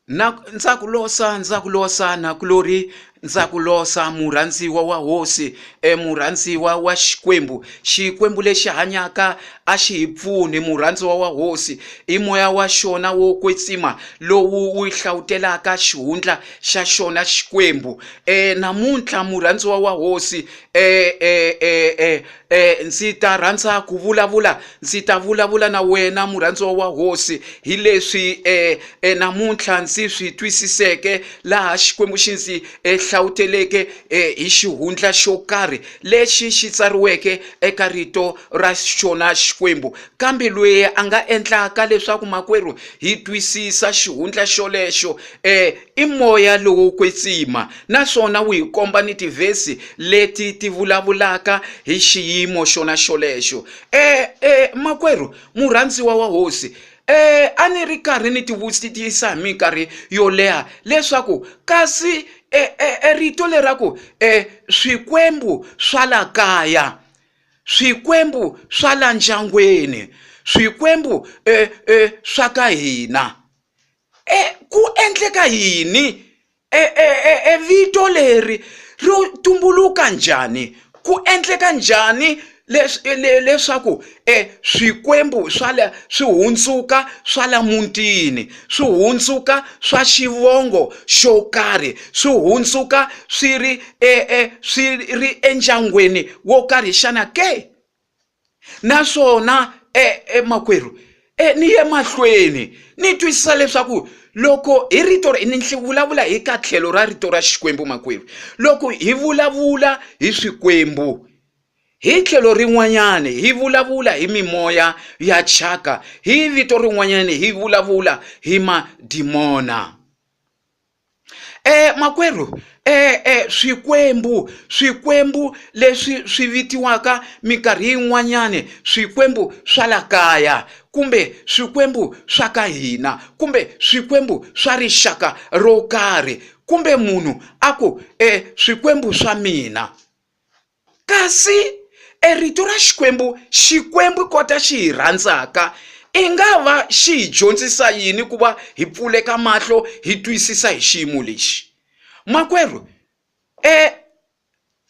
Na ndza ku losa ndza ku losa na ku lo ri ndza ku losa murhandziwa wa hosi e murhandziwa wa xikwembu xikwembu lexi hanyaka a xi hi pfuni murhandziwa wa hosi i moya wa xona wo kwetsima lowu wu hlavutela xihundla xa xona xikwembu um namuntlha murhandziwa wa hosi um Eh, ndzi ta rhandza ku vulavula ndzi ta vulavula na wena murhandziwa wa hosi hi leswi eh, eh, namuntlha ndzi swi twisiseke laha xikwembu xi ndzi eh, hlawuteleke eh, hi xihundla xo karhi lexi xi tsariweke eka rito ra xona xikwembu kambe loyi a nga endlaka leswaku makwerhu hi twisisa xihundla xolexo eh, I moya lowo kwetsima naswona wu hi komba ni tivhesi leti ti vulavulaka hi xiyimo xona xolexo. E, e, makwerhu murhandziwa wa hosi, e, a ni ri karhi ni tivutisa hi minkarhi yo leha leswaku kasi e, e, e rito lera ku e, swikwembu swa la kaya swikwembu swa la ndyangwini swikwembu e, e, swa ka hina E ku endleka yini? E, e, e, e vito leri ri tumbuluka njhani? Ku endleka njhani leswaku e swikwembu swa la swi hundzuka swa la mutini swi hundzuka swa xivongo xo karhi swi hundzuka swi ri e, e swi ri endyangwini wo karhi xana ke? naswona emakwerhu e, ni ye mahlweni ni twisisa leswaku loko hi rito ni vulavula hi ka tlhelo ra rito ra xikwembu makwerhu loko hi vulavula hi swikwembu hi tlhelo rin'wanyana hi vulavula hi mimoya ya thyaka hi vito rin'wanyana hi vulavula hi madimona E makwerhu e, e swikwembu swikwembu leswi swi vitiwaka minkarhi yin'wanyani swikwembu swa la kaya kumbe swikwembu swa ka hina kumbe swikwembu swa rixaka ro karhi kumbe munhu a ku e swikwembu swa mina Kasi e rito ra Xikwembu, Xikwembu kota xi hi rhandzaka, i nga va xi hi dyondzisa yini ku va hi pfuleka mahlo hi twisisa hi xiyimo lexi? Makwerhu, e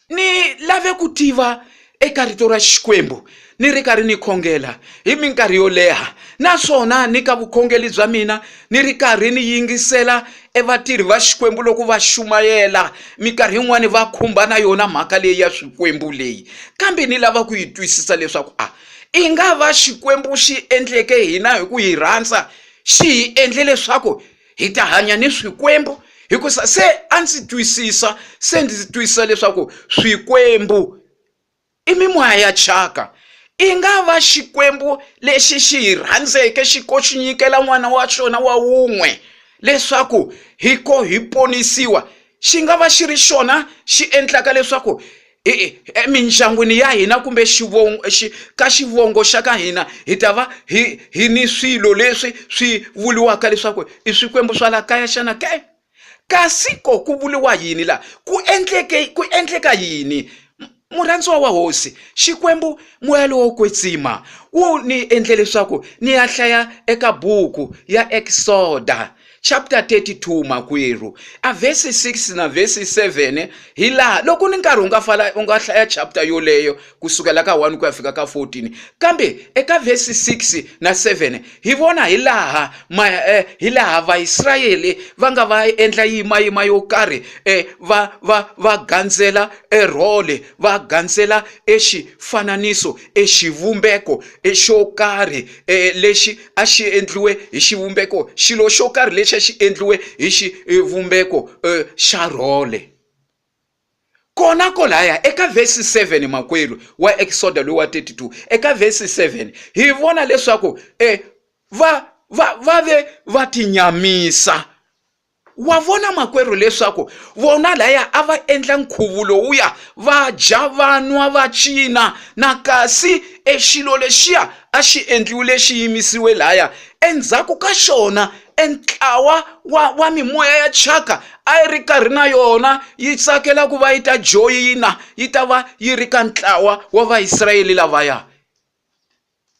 ni lave ku tiva eka rito ra Xikwembu ni ri karhi ni khongela hi minkarhi yo leha naswona ni ka vukhongeli bya mina ni ri karhi ni yingisela evatirhi va xikwembu loko va xumayela minkarhi yin'wani va khumba na yona mhaka leyi ya swikwembu leyi kambe ni lava ku yi twisisa leswaku a i nga va xikwembu xi endleke hina hi ku hi rhandza xi hi endle leswaku hi ta hanya ni swikwembu hikusa se a ndzi twisisa se ndzi twisisa leswaku swikwembu I mimoya ya thyaka. I nga va Xikwembu lexi xi hi rhandzeke xi ko xi nyikela n'wana wa xona wa wun'we leswaku hi ko hi ponisiwa. Xi nga va xi ri xona xi endlaka leswaku emindyangwini ya hina kumbe xivongo xi ka xivongo xa ka hina hi ta va hi hi ni swilo leswi swi vuriwaka leswaku i swikwembu swa la kaya xana ke Kasi ko ku vuriwa yini la? Ku endleke ku endleka yini? Murhandziwa wa hosi, Xikwembu moya lowo kwetsima wu ni endle leswaku ni ya hlaya eka buku ya Exoda chapter 32 makwerhu a verse 6 na verse 7 hi laha loko ni nkarhi u nga fala u nga hlaya chapter yoleyo ku sukela ka 1 ku ya fika ka 14 kambe eka vhesi 6 na 7 hi vona hi laha ma, eh, hi laha vaisrayele va nga va endla yimayima yo karhi eh, va, va, va gandzela erhole va gandzela exifananiso exivumbeko eh, xo karhi eh, lexi a xi endliwe hi xivumbeko xilo xo karhi lexi a xi endliwe hi xivumbeko eh, xa rhole Kona kolaya eka vhesi 7 makwerhu wa Eksoda loyi wa 32 eka vhesi 7 hi vona leswaku e va va va ve va tinyamisa wa vona makwerhu leswaku vona laya a va endla nkhuvu lowuya va dya vanwa va cina na kasi exilo lexiya a xi endliwi lexi yimisiwe laya endzhaku ka xona entlawa wa wa mimoya ya chaka a yi ri karhi na yona yi tsakela ku va yi ta joyina yi ta va yi ri ka ntlawa wa vaisrayele lavaya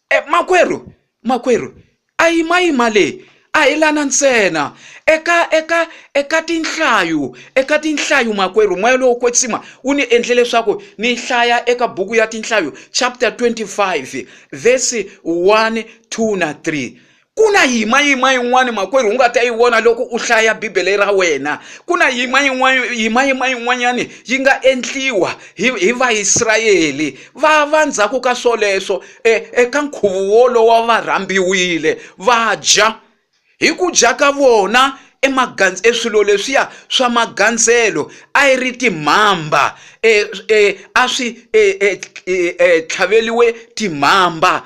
e makwerhu makwerhu a yima yima leyi a hi lana ntsena eka eka eka tinhlayo eka tinhlayo makwerhu moya lowo kwetsima wu ni endle leswaku ni hlaya eka buku ya tinhlayo chapter 25 verse 1 2 na 3 ku na yima yima yin'wana makwerhu u nga ta yi vona loko u hlaya bibele ra wena ku na yima yin'wana yima yima yin'wanyana yi nga endliwa hi hi vaisrayele va va ndzhaku ka swoleswo e, eka nkhuvo wolowo va rhambiwile va dya hi ku dya ka vona emagandz eswilo leswiya swa magandzelo a yi ri timhamba e, e, a swi e, e, e, e, tlhaveliwe timhamba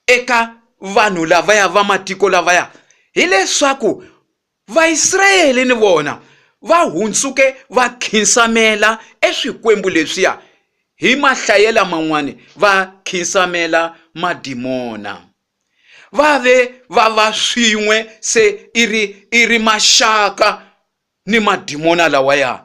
eka vanhu lavaya va matiko lavaya hileswaku Vaisrayele ni vona va hundzuke va khinsamela eswikwembu leswiya hi mahlayela man'wani va khinsamela madimona va ve va va swin'we se i ri i ri maxaka ni madimona lawaya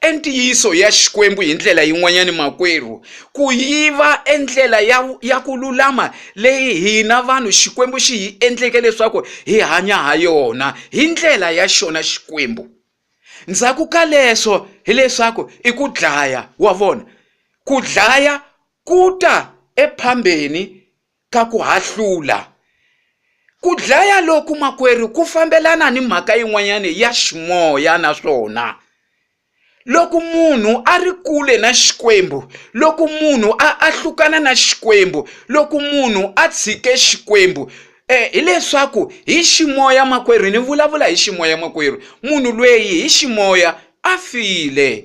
e ntiyiso ya Xikwembu hi ndlela yin'wanyana makwerhu, ku yi va e ndlela ya, ya ku lulama leyi hina vanhu Xikwembu xi hi endleke leswaku hi hanya ha yona, hi ndlela ya xona Xikwembu. Ndzhaku ka leswo hileswaku i ku dlaya, wa vona, ku dlaya ku ta ephambeni ka ku hahlula. Ku dlaya loku makwerhu ku fambelana ni mhaka yin'wanyana ya ximoya naswona loko munhu a ri kule na xikwembu loko munhu a ahlukana na xikwembu loko munhu a tshike xikwembu eh, hileswaku hi ximoya makwerhu ni vulavula hi ximoya makwerhu munhu lweyi hi ximoya a file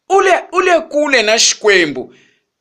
U le, u le kule na Xikwembu.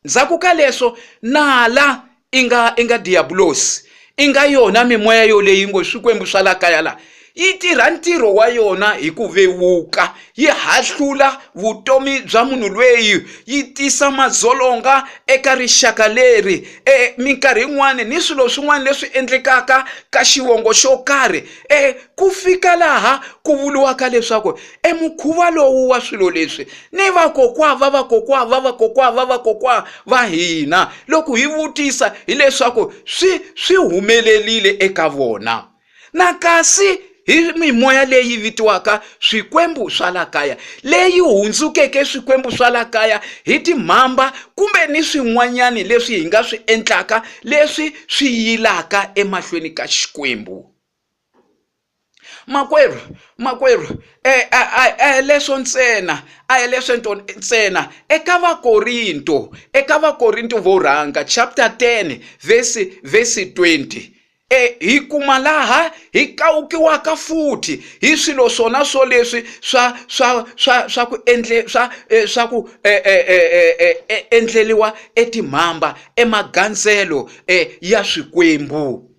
Ndzhaku ka leswo, nala, i nga, i nga Diyabulosi, i nga yona mimoya yoleyi yi ngo swikwembu swa la kaya la, yi tirha ntirho wa yona hi ku vewuka, yi hahlula vutomi bya munhu lweyi, yi tisa madzolonga eka rixaka leri, e, minkarhi yin'wana ni swilo swin'wana leswi endlekaka ka xivongo xo karhi, e, ku fika laha ku vuriwaka leswaku e mukhuva lowu wa swilo leswi ni vakokwa va vakokwa va vakokwa va vakokwa va hina loko hi vutisa hileswaku swi swi humelerile eka vona na kasi hi mimoya leyi vitiwaka swikwembu swa la kaya leyi hundzukeke swikwembu swa la kaya hi timhamba kumbe ni swin'wanyani leswi hi nga swi endlaka leswi swi yilaka emahlweni ka xikwembu makwerhu makwerhu e, a a hi leswo ntsena a hi leswo ntsena eka vakorinto eka vakorinto vo rhanga chapter 10 vesi vesi 20 e hi kuma laha hi kawukiwaka futhi hi swilo swona swo leswi swa swa swa swa ku endle swa e, swa ku e, e, endleliwa etimhamba emagandzelo ya swikwembu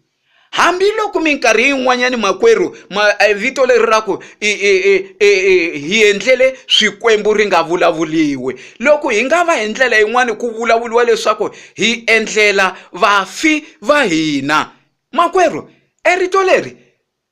hambiloko minkarhi yin'wanyani makwerhu ma eh, vito leri ra ku hi endlele swikwembu ri nga vulavuliwi loko hi nga va hi ndlela yin'wani ku vulavuliwa leswaku hi endlela vafi va hina makwerhu erito leri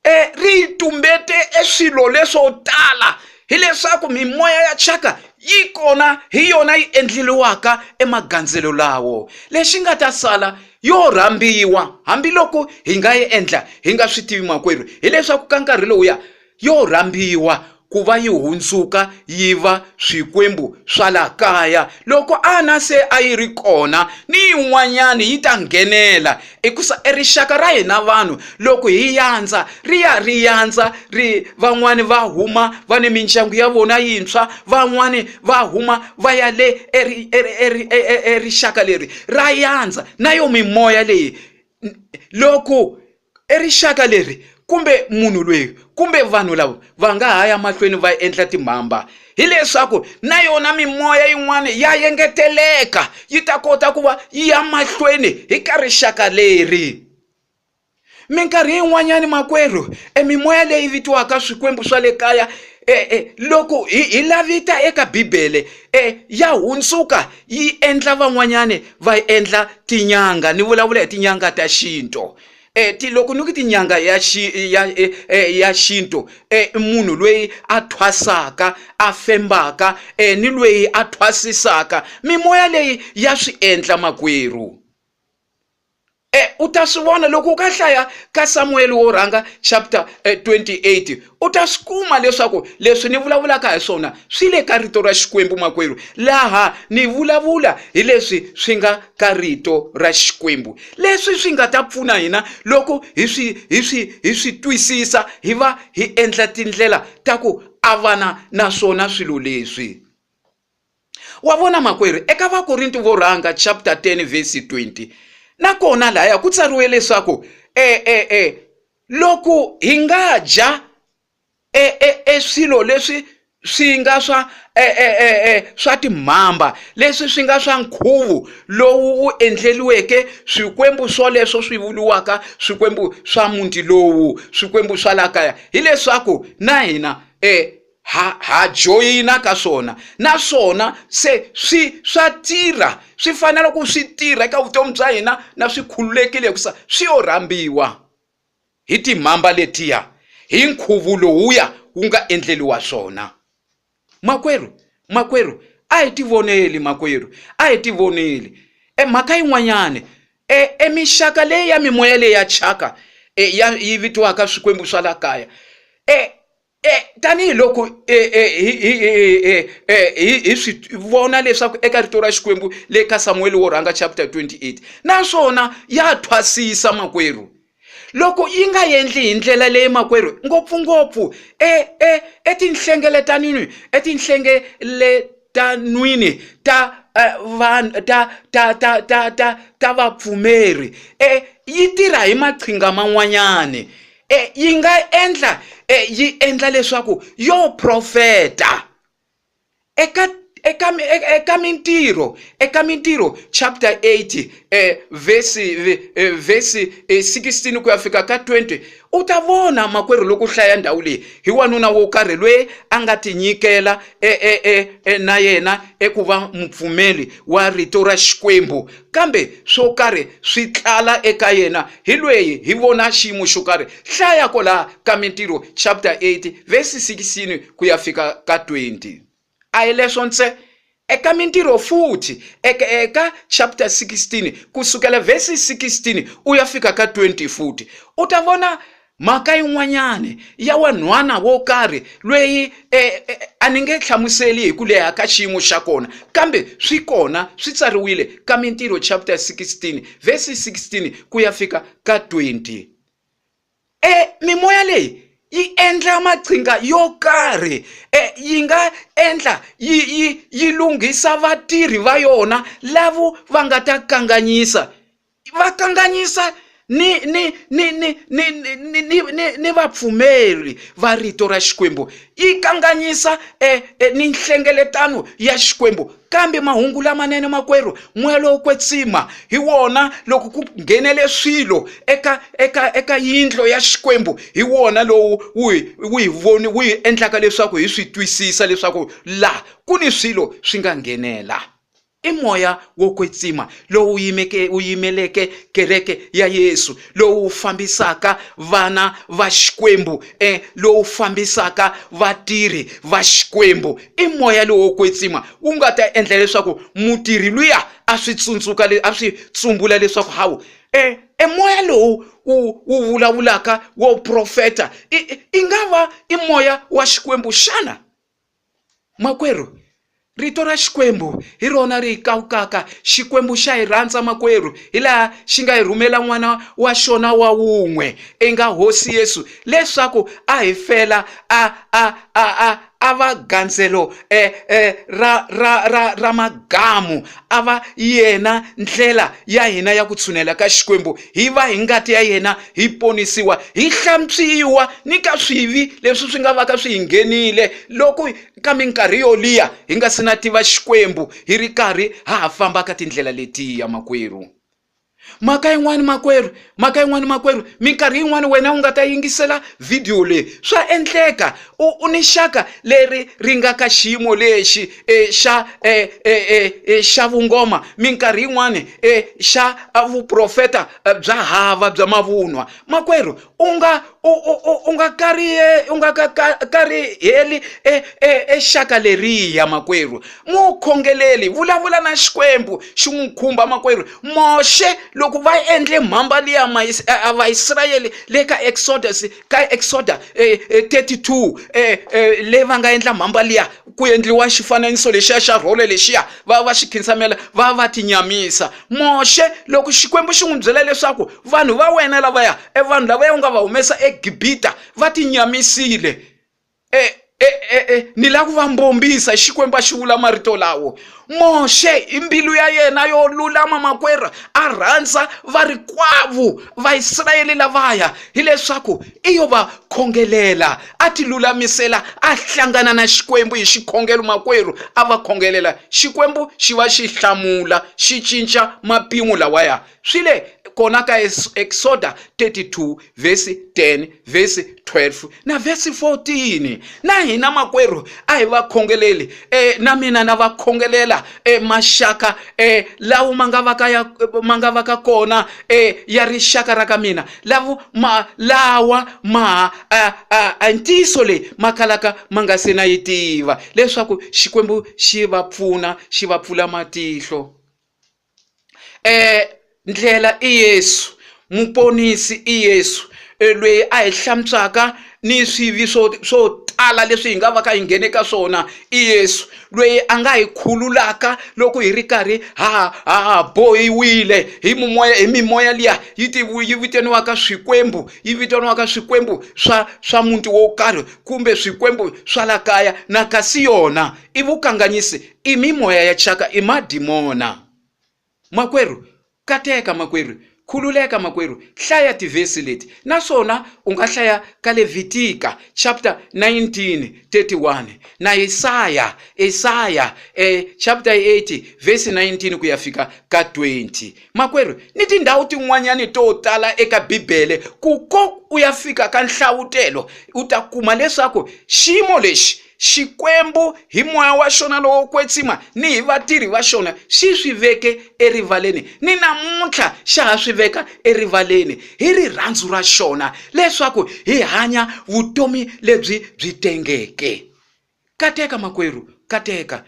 e ri yi tumbete e swilo leswo tala hileswaku mimoya ya chaka yi kona hi yona yi endleliwaka emagandzelo lawo lexi nga ta sala yo rhambiwa hambiloko hi nga yi endla hi nga swi tivi makwerhu hileswaku ka nkarhi lowuya yo rhambiwa ku va yi hundzuka yi va swikwembu swa laha kaya loko ana se a yi ri kona ni yin'wanyana yi ta nghenela hikusa erixaka ra hina vanhu loko hi yandza ri ya ri yandza ri van'wani va huma va ni mindyangu ya vona yintshwa van'wani va huma va ya le erixaka leri ra yandza na yo mimoya leyi loko i rixaka leri kumbe munhu loyi kumbe vanhu lava va nga ha ya mahlweni va endla timhamba hileswaku na yona mimoya yin'wana ya engeteleka yi ta kota ku va yi ya mahlweni hi ka rixaka leri minkarhi yin'wanyani makwerhu e mimoya leyi vitiwaka swikwembu swa le kaya e loko hi hi la vita eka bibele e ya hundzuka. yi endla van'wanyani va yi endla tin'anga ni vulavula hi tin'anga ta xintu um ti loko ni ku tin'anga ya ya ya xintu um munhu loyi a thwasaka a fembaka um ni loyi a thwasisaka mimoya leyi ya swi endla makwerhu E, u ta swi vona loko u ka hlaya ka samuweli wo rhanga chapter 28 eh, u ta swi kuma leswaku leswi ni vulavulaka hi swona swi le ka rito ra xikwembu makwerhu laha ni vulavula hi leswi swi nga ka rito ra xikwembu leswi swi nga ta pfuna hina loko hi swi hi swi hi swi twisisa hi va hi endla tindlela ta ku avana na swona swilo leswi wa vona makwerhu eka vakorinti vo rhanga chapter 10 verse 20 nakona lahaya ku tsariwe leswaku e e e loko hi nga dya e e e swilo leswi swi nga swa e e e e swa timhamba leswi swi nga swa nkhuvo lowu wu endleliweke swikwembu swoleswo swi vuriwaka swikwembu swa muti lowu swikwembu swa la kaya hileswaku na hina e ha ha joyina ka swona naswona se swi swa tirha swi fanele ku swi tirha eka vutomi bya hina na swi khululekile hikusa swi yo rhambiwa hi timhamba letiya hi nkhuvo lowuya wu nga endleliwa swona makwerhu makwerhu a hi tivoneli makwerhu a hi tivoneli e mhaka yin'wanyana e emixaka leyi ya mimoya leyi ya chaka e ya yi vitiwaka swikwembu swa la kaya e tanihi loko hi swi vona leswaku eka rito ra xikwembu le ka samuweli wo rhanga chapter 28 naswona ya thwasisa makwerhu loko yi nga endli hi ndlela leyi makwerhu ngopfungopfu e, e, etinhlengeletanini etinhlengeletanwini ta eh, vanhu ta ta ta ta ta ta vapfumeri e yi tirha hi maqhinga man'wanyani e yi nga endla e yi endla leswaku yo profeta eka eka eka mintirho eka mintirho chapter 8 eh, verse eh, verse 16 eh, ku ya fika ka 20 u ta vona makwerhu loko hlaya ndhawu leyi hi wanuna wo karhi loyi a nga tinyikela e, e, e, e, na yena eku va mupfumeli wa rito ra xikwembu kambe swo karhi swi tlala eka yena hi lweyi hi vona xiyimo xo karhi hlaya ko laha ka mintirho chapter 8 vesi 16 ku ya fika ka 20 a hi leswo ntse eka mintirho futhi eka, eka chapter 16 kusukela vesi 16 u ya fika ka 20 futhi u ta vona Mhaka yin'wanyana ya wanhwana wo karhi loyi e, e, a ni nge hlamuseli hi ku leha ka xiyimo xa kona kambe swi kona swi tsariwile ka mintirho chapter 16 vhesi 16 ku ya fika ka 20 e mimoya leyi yi endla maqhinga yo karhi e, yi nga endla yi, yi, yi lunghisa vatirhi va yona lavo va nga ta kanganyisa va kanganyisa ni ni ni ni ni ni ni ni ni ni vapfumeri va rito ra xikwembu yi kanganyisa e, e, ni nhlengeletano ya xikwembu kambe mahungu lamanene makwerhu moya lowo kwetsima hi wona loko ku nghenele swilo eka eka eka yindlo ya xikwembu hi wona lowu wu wu hi voni wu hi endlaka leswaku hi swi twisisa leswaku laha ku ni swilo swi nga nghenela I moya wo kwetsima lowu yimeke wu yimeleke kereke ya Yesu, lowu fambisaka vana va Xikwembu, eh, lowu fambisaka vatirhi va Xikwembu. I moya lowo kwetsima wu nga ta endla leswaku mutirhi luya a swi tsundzuka a swi tsumbula leswaku hawu e e moya lowu wu wu vulavulaka wo profeta i i nga va i moya wa Xikwembu xana? makwerhu rito ra xikwembu hi rona ri hi kawukaka xikwembu xa hi rhandza makwerhu hi laha xi nga hi rhumela n'wana wa xona wa wun'we i nga hosi yesu leswaku a hi fela a a a a a va gandzelo eh, eh, ra ra ra ra magamu a va yena ndlela ya hina ya ku tshunela ka Xikwembu, hi va hi ngati ya yena hi ponisiwa, hi hlantswiwa ni ka swivi leswi swi nga vaka swi hi nghenile loko ka minkarhi yo liya hi nga si na tiva Xikwembu hi ri karhi ha ha famba ka tindlela letiya makwerhu. mhaka yin'wani makwerhu mhaka yin'wani makwerhu minkarhi yin'wani wena u nga ta yingisela vhidiyo leyi swa endleka u u ni xaka leri ri nga ka xiyimo lexi e xa e, e, e, e, xa vungoma minkarhi yin'wani e xa vuprofeta bya hava bya mavunwa makwerhu u nga u u u u nga kariha u nga ka ka kariheli e e e xaka leriya makwerhu n'wi wu khongeleli vulavula na xikwembu xi n'wi khumba makwerhu Moxe loko va endle mhamba liya ma a Vaisrayele le ka Exodus ka Exoder thirty two leyi va nga endla mhamba liya. ku endliwa xifananiso lexiya xa rhole lexiya va va xi khinsamela va va tinyamisa moxe loko xikwembu xi n'wi byela leswaku vanhu va wena lavaya e vanhu lavaya u nga va humesa egibita va tinyamisile e, e, e, e, ni lava ku va mbombisa xikwembu a xi vula marito lawo Moxe hi mbilu ya yena yo lulama makwerhu a rhandza varikwavo Vaisrayele lavaya hileswaku i yo va khongelela a ti lulamisela a hlangana na Xikwembu hi xikhongelo makwerhu a va khongelela Xikwembu xi va xi hlamula xi cinca mapimo lawaya Swi le kona ka Eksoda 32 vhesi 10 vhesi 12 na vhesi 14. Na hina makwerhu a hi va khongeleli e, na mina na va khongelela e, maxaka e, lawo ma nga va ka ya ma nga va ka kona e, ya rixaka ra ka mina lavo ma lawa ma a, a, a ntiyiso leyi ma kalaka ma nga se na yi tiva leswaku Xikwembu xi va pfuna xi va pfula matihlo e ndlela i Yesu muponisi i Yesu e lweyi a hi hlantswaka ni swivi swo swo tala leswi hi nga va ka hi nghene ka swona i Yesu lweyi a nga hi khululaka loko hi ri karhi ha ha bohiwile hi mimoya hi mimoya liya yi ti yi vitaniwaka swikwembu yi vitaniwaka swikwembu swa swa muti wo karhi kumbe swikwembu swa la kaya na kasi yona i vukanganyisi I mimoya ya thyaka, i madimona. Makwerhu, kateka makwerhu, khululeka makwerhu, hlaya tivhesi leti, naswona u nga hlaya ka Levitika chapter 19 31 na Isaya, Isaya eh, chapter 80 verse 19 ku ya fika ka 20. Makwerhu, ni tindhawu tin'wanyani to tala eka Bibele, ku ko u ya fika ka nhlawutelo, u ta kuma leswaku xiyimo lexi Xikwembu, hi moya wa xona lowo kwetsima ni hi vatirhi va xona, xi swi veke erivaleni. Ninamuntlha xa ha swi veka erivaleni, hi rirhandzu ra xona, leswaku hi hanya vutomi lebyi byi tengeke. Kateka, makwerhu, kateka.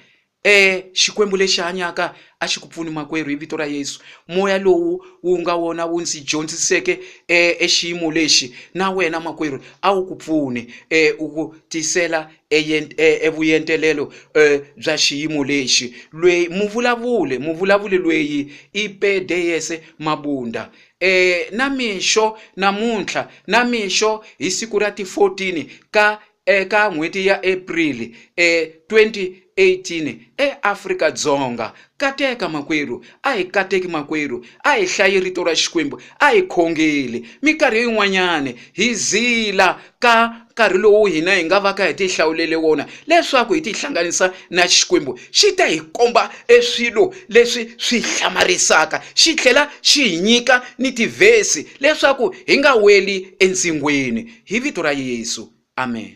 E Xikwembu lexi hanyaka a xi ku pfuni makwerhu hi vito ra Yesu. Moya lowu wu nga wona wu ndzi dyondziseke e exiyimo lexi na wena makwerhu a wu ku pfune e u ku tisela e, e, e vuyentelelo e bya xiyimo lexi. Lweyi muvulavule muvulavuli lweyi i Pedeyese Mabunda. E na mixo namuntlha, na mixo hi siku ra ti 14 ka Eka n'hweti ya April e 2018 e Afrika Dzonga, Kateka makwerhu, a hi kateki makwerhu, a hi hlayi rito ra Xikwembu, a hi khongeli. Mikarhi yin'wanyana hi zila ka nkarhi lowu hina hi nga vaka hi tihlawulele wona leswaku hi tihlanganisa na Xikwembu, xi ta hi komba e swilo leswi swi hlamarisaka xi tlhela xi hi nyika ni tivhesi leswaku hi nga weli entsingweni hi vito ra yesu amen